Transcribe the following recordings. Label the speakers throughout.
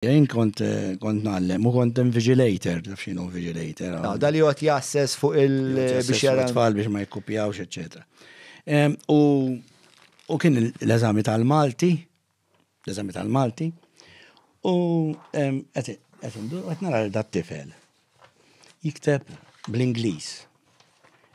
Speaker 1: Jien kont kont nallem u kont invigilator, taf xinu invigilator. Ah, dal jgħot jasses
Speaker 2: fuq il biex jara.
Speaker 1: Tfal biex ma jikkupjawx, eccetera. U u kien l-eżami tal-Malti, l-eżami tal-Malti, u qed indur qed nara dat tifel. Jikteb bl-Ingliż.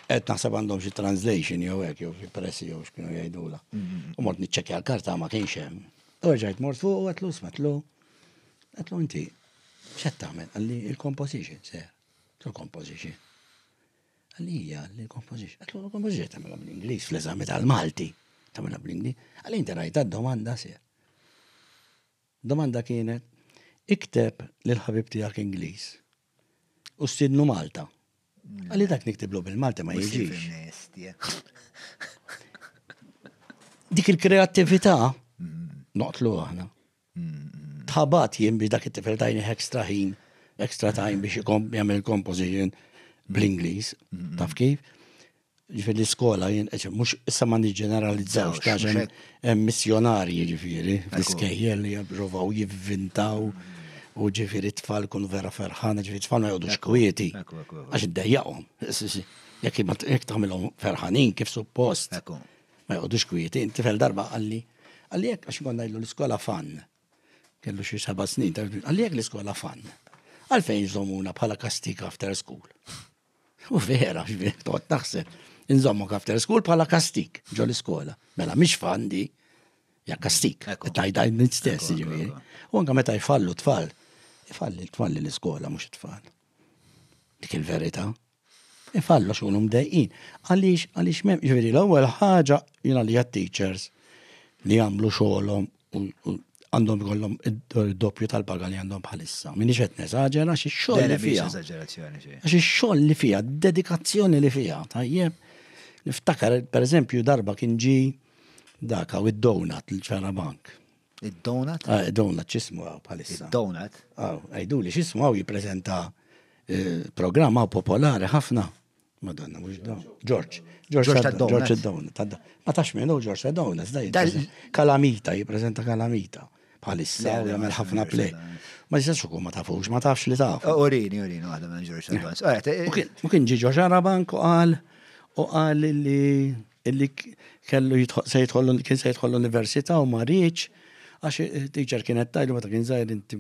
Speaker 1: Qed naħseb għandhom xi translation jew hekk jew xi pressi jew x'kienu jgħidula. Mm-hmm. U mort niċċekkja l-karta ma kienx hemm. U rġajt mort fuq u għatlu smetlu. Għatlu inti x'qed tagħmel? Għalli il-composition se. Il-composition. Għalli hija l-composition. Għatlu l-composition tagħmilha bl-Ingliż fl-eżami tal-Malti. Tagħmilha bl-Ingliż. Għalli inti rajt domanda se. Domanda kienet, Ikteb lill-ħabib tiegħek Ingliż u stiednu Malta. Qalli dak niktiblu bil-Malti ma jiġix. Dik il-kreattività noqtlu aħna. Tħabat jien biex dak it-tifel tajni extra ħin, extra time biex jagħmel composition bl-Ingliż, taf kif? Ġifieri l-iskola jien mhux issa ma niġġeneralizzawx għax hemm missjonarji ġifieri fl-iskejjel li jippruvaw jivvintaw u ġifieri tfal kun vera ferħana ġifieri tfal ma jgħodux kwieti għax iddejjaqhom. Jekk tagħmilhom ferħanin kif suppost ma jgħodux kwieti, tifel darba qalli għalli jekk għax konna jgħidu l-iskola fan. Kellu xi seba' snin, għalli jekk l-iskola fan. Għalfejn żomuna bħala kastik after school. U vera, ġbir, toqgħod taħseb. Inżommu after school bħala kastik ġol iskola. Mela mhix fandi, ja kastik. Tajda nit stess, ġifieri. U anke meta jfallu tfal, ifalli tfalli l-iskola mhux it-tfal. Dik il-verità. Ifallu xogħol mdejqin. Għaliex għaliex m'hemm, ġifieri l-ewwel ħaġa jiena li teachers li jagħmlu xogħolhom għandhom ikollhom id-doppju tal-paga li għandhom bħalissa. Minix qed neżaġera xi xogħol li fiha. Xi xogħol li fiha, dedikazzjoni li fiha, tajjeb. Niftakar, per eżempju, darba kien ġi daka u id-donut l-ċara bank. Id-donut?
Speaker 2: Ah, id-donut ċismu
Speaker 1: għaw bħalissa. Id-donut? Għaw,
Speaker 2: għajdu li ċismu
Speaker 1: għaw jiprezenta eh, programma popolari ħafna. Madonna, mux da. George. George Sadowna. George Ma tax minn u George Sadowna, zdaj. Kalamita, jiprezenta kalamita. Bħalissa, u jgħamil ħafna play. Ma jistax ukoll ma tafux, ma tafx li taf. Urini, urini, għadha minn
Speaker 2: George Sadowna. U kien ġi George
Speaker 1: Arabank u għal u għal li illi kellu se jitħollu kien se jitħollu l-università u ma rridx għax teacher kienet tajlu meta kien żgħir inti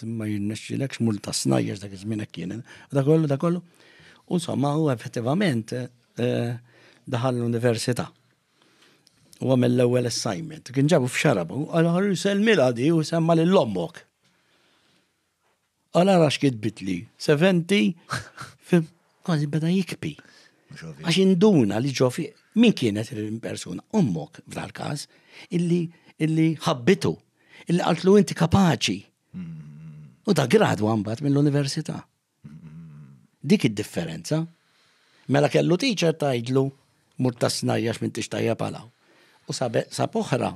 Speaker 1: ma jirnexxilekx mur ta' snajjex dak iż-żmien hekk kien. Da kollu, da kollu. Insomma, u effettivament eh, daħal l-università. U għamil l-ewwel assignment. Kien ġabu f'xarabu, għal ħarru selmila di u semma lil ommok. Għala rax kitbitli, 70, kważi beda jikpi. Għax induna li ġofi, min kienet il-persuna? Ummok, f'dal kas, illi illi ħabbitu, illi għaltlu inti kapaċi. U da gradu għambat mill-università. Dik hi d-differenza. Mela kellu teacher tgħidlu, Mur tas-snajja għax m'intix tajjeb għal hawn. U sab oħra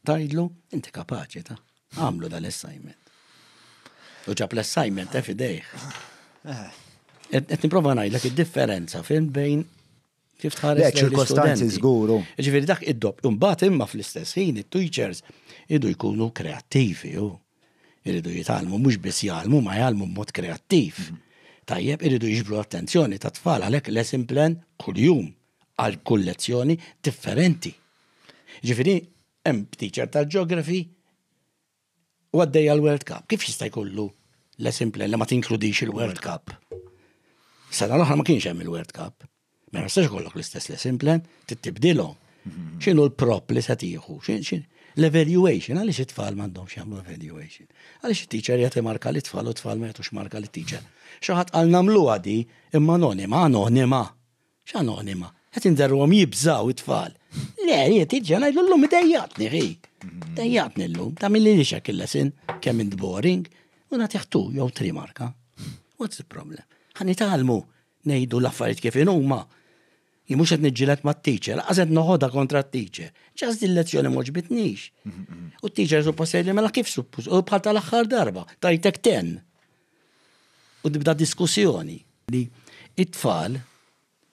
Speaker 1: tgħidlu, Inti kapaċi ta', agħmlu dal-assignment. U ġab l-assignment eh f'idejh. Qed nipprova ngħidlek id-differenza, fimt, bejn Kif tħares lejn ċirkostanzi żguru.
Speaker 2: Ġifieri dak id-dopp.
Speaker 1: Imbagħad imma fl-istess ħin it-teachers idu jkunu kreattivi u iridu jitgħallmu mhux biss jgħallmu ma jgħallmu b'mod kreattiv. Mhm. Tajjeb iridu jiġbru l-attenzjoni ta' tfal għalhekk lesson plan kuljum għal kull lezzjoni differenti. Ġifieri hemm teacher tal-geography u għaddej għal World Cup. Kif jista' jkollu lesson plan li ma tinkludix il-World Cup? Sena l-oħra ma kienx hemm il-World Cup. Ma mela jistax ikollok l-istess lesson plan, tibdilhom. Mhm. X'inhu l-prop li se tieħu? L-evaluation, għaliex it-tfal m'għandhomx jagħmlu evaluation? Għaliex it-teacher jagħti marka li tfal u tfal ma jagħtux marka li teacher? Xi ħadd qal nagħmluha di imma anonima, anonima. X'anonima? Qed inderruhom jibżaw it-tfal. Le, jiet iġġa ngħidlu llum idejjaqtni ħi. Dejjaqtni llum, ta' milli li xek il-lesin kemm int boring u nagħtih tu jew tri marka. What's the problem? Ħa nitgħallmu ngħidu l-affarijiet kif inhuma. Jien mhux qed niġġieled mat-teacher, laqas qed noħodha kontra t-teacher. Ġas din lezzjoni moġbitnix. U t-teacher suppost jgħidli mela kif suppost, u bħal tal-aħħar darba, tajtek ten. u tibda diskussjoni li t-tfal,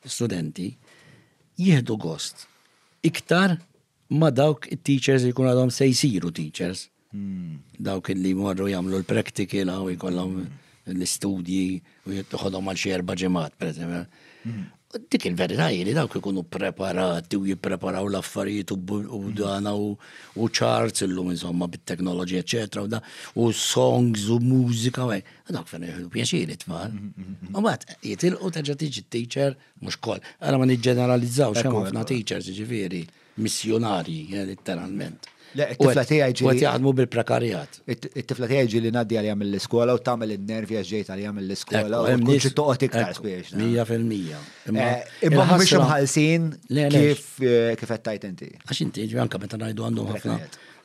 Speaker 1: l-istudenti, jieħdu gost iktar ma' dawk it-teachers li jkunu għadhom se jsiru teachers. Dawk li jmorru jagħmlu l-practical u jkollhom l-istudji u jitħodhom għal xi erba' ġimgħat, pereżempju. Dik il-verità hi li dawk ikunu preparati u jippreparaw l-affarijiet u mm. dana u charts illum insomma bit-teknoloġija eċetera u da u songs u mużika u dawk fejn jieħdu pjaċiri tfal. Mm, mm, u mbagħad jitilqu terġa' tiġi teacher mhux koll. Ara ma niġġeneralizzaw xemm ħafna teachers ġifieri. missjunarji, letteralment. Le, it-tifla tiegħi
Speaker 2: ġieli. U qed jaħdmu bil-prekarjat.
Speaker 1: It-tifla tiegħi
Speaker 2: ġieli ngħaddi għalija mill-iskola u tagħmel in-nervi għax ġejt għalija mill-iskola u mhux xi toqgħod iktar spiex. Mija fil-mija.
Speaker 1: Imma eh, mhux
Speaker 2: imħallsin kif eh, kif qed tajt inti. Għax inti ġi anke meta
Speaker 1: ngħidu għandhom ħafna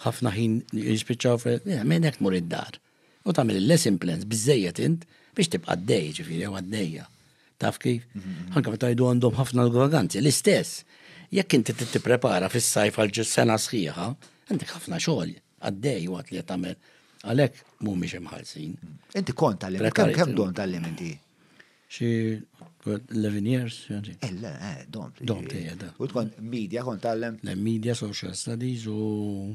Speaker 1: ħafna ħin jispiċċaw fil. Minn hekk tmur id-dar. U tagħmel il-lesson plans biżejjed int biex tibqa' għaddej, ġifieri jew għaddejja. Taf kif? Anke meta jdu għandhom ħafna l-vaganzi, l-istess. Jekk inti trid tipprepara fis-sajf għal ġus sena sħiħa, għandek ħafna xogħol għaddej waqt li tagħmel għalhekk mhumiex imħallsin. Inti kont tal-limit,
Speaker 2: kemm kemm don tal-limit Xi
Speaker 1: 11 years, ġanġi. Ella, eh, eh, dom.
Speaker 2: Dom, tejja, da.
Speaker 1: U tkun media kont
Speaker 2: tal-lem? Le, media, social
Speaker 1: studies u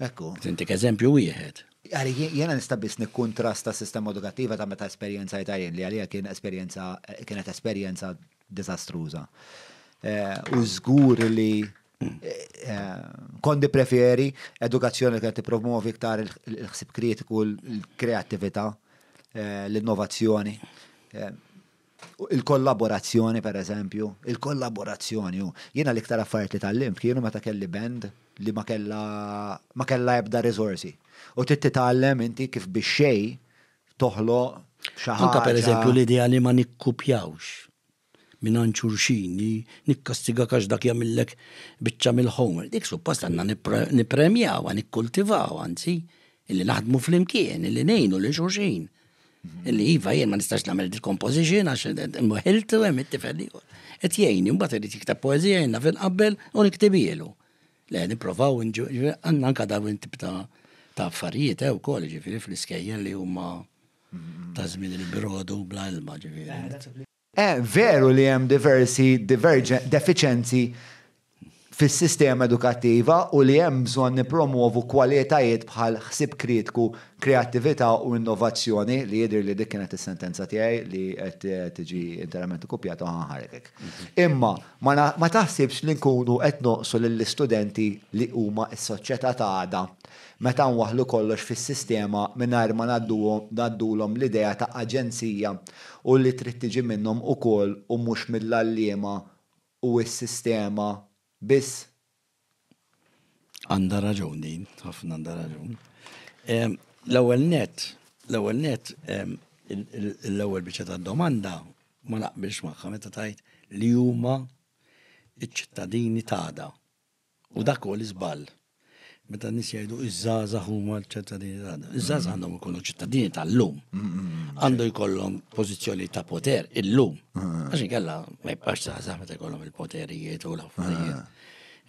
Speaker 1: Ekku.
Speaker 2: Intik eżempju
Speaker 1: wieħed. Għali, jiena nista'
Speaker 2: biss nikkuntrasta s-sistema edukattiva ta' meta esperjenzajtha jien, li għalija kien esperjenza, kienet esperjenza diżastruża. U żgur li kont nippreferi edukazzjoni li kienet tippromovi iktar il-ħsieb kritiku, l-kreattività, l-innovazzjoni. Il-kollaborazzjoni, pereżempju, il-kollaborazzjoni hu, jiena l-iktar affarijiet li tgħallimt kienu meta kelli band li ma kellha ma kellha ebda riżorsi. U trid titgħallem inti kif bix-xejn toħloq xi ħaġa. Anke pereżempju l-idea li
Speaker 1: ma nikkupjawx mingħand xulxin, li nikkastigak għax dak jagħmillek biċċa mill-homework, dik suppost għandna nippremjawha, nikkultivawha anzi, illi naħdmu flimkien, illi ngħinu lil xulxin. Illi iva jien ma nistax nagħmel dil-composition għax imħilt u hemm it-tifel ieħor. Qed jgħinni mbagħad irid jiktab poeżija jien naf inqabbel u niktibielu. Le nipprovaw għandna anke dawn it-tip ta' ta' affarijiet hew eh, ukoll ġifieri fl-iskejjel li huma ta' żmien il-brodu bla ilma ġifieri. Veru
Speaker 2: li hemm diversi defiċenzi fis-sistema edukattiva u li hemm bżonn nippromwovu kwalitajiet bħal ħsieb kritku, kreattività u innovazzjoni, li jidhirli li dik kienet is-sentenza tiegħi li qed tiġi interament ikkupjata u ħanħarrek hekk. Imma ma taħsibx li nkunu qed nonqsu lill-istudenti li huma s-soċjetà ta' għada Meta nwaħħlu kollox fis-sistema mingħajr ma ngħaddulhom l-idea ta' aġenzija u li trid tiġi minnhom ukoll u mhux mill-għalliema u s-sistema biss.
Speaker 1: Għandha raġun din, ħafna għandha raġun. L-ewwel nett, l-ewwel nett, l-ewwel biċċa tad-domanda ma naqbilx magħha meta tgħid li huma ċ-ċittadini ta' għada. U dak huwa l-iżball. Meta n-nies jgħidu iż-żgħażagħ huma l-ċittadini tagħna. Iż-żgħażagħ għandhom ikunu ċittadini tal-lum. Għandu jkollhom pożizzjoni ta' poter illum. Għax inkella ma jibqax żgħażagħ meta jkollhom il-poterijiet u l-affarijiet.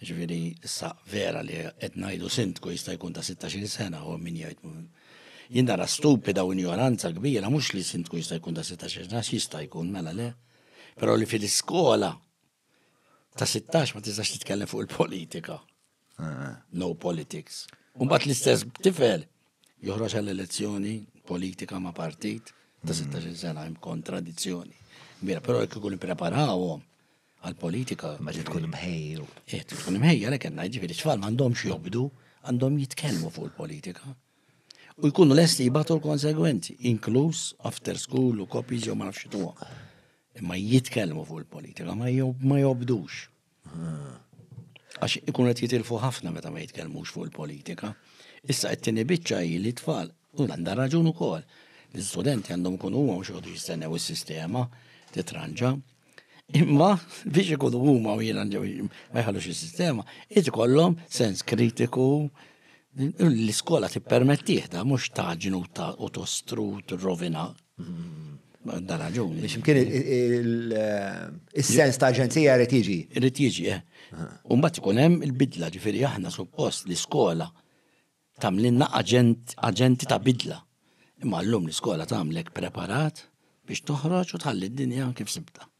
Speaker 1: Ġifieri issa vera li qed ngħidu sindku jista' jkun ta' 16 sena u min jgħid jien nara stupida u injoranza kbira mhux li sindku jista' jkun ta' 16 sena jista' jkun mela le. Però li fil-iskola Ta' 16 ma tistax titkellem fuq il-politika. Eh. No politics. Umbat l-istess tifel joħroġ għall-elezzjoni politika ma' partit ta' 16 sena hemm kontradizzjoni. Mira, però jekk ikun ippreparawhom għal-politika. Ma tkun
Speaker 2: mħejju. Eh, tkun mħejja
Speaker 1: għalhekk għandna jiġifieri tfal m'għandhomx jobdu, għandhom jitkellmu fuq il-politika. U jkunu lesti jibatu l-konsegwenzi, inkluż after school u kopji ġew ma nafx Imma jitkellmu fuq il-politika, ma jobdux. Ah. Għax ikun qed jitilfu ħafna meta ma jitkellmux fuq il-politika. Issa qed tieni biċċa hi li tfal u għandha raġun ukoll. L-istudenti għandhom ikunu huma mhux għodu jistennew is-sistema titranġa. Imma biex ikunu huma u jiena ma jħallux is-sistema, qed ikollhom sens kritiku l-iskola tippermettih da mhux taġnu u tostrut rovina Dan raġuni. Biex mkien
Speaker 2: il-sens ta' aġenzija rrit jiġi. Rrit jiġi, eh.
Speaker 1: Umbat ikun hemm il-bidla, ġifieri aħna suppost l-iskola tamlinna aġenti ta' bidla. Imma llum l-iskola tagħmlek preparat biex toħroġ u tħalli d-dinja kif sibta.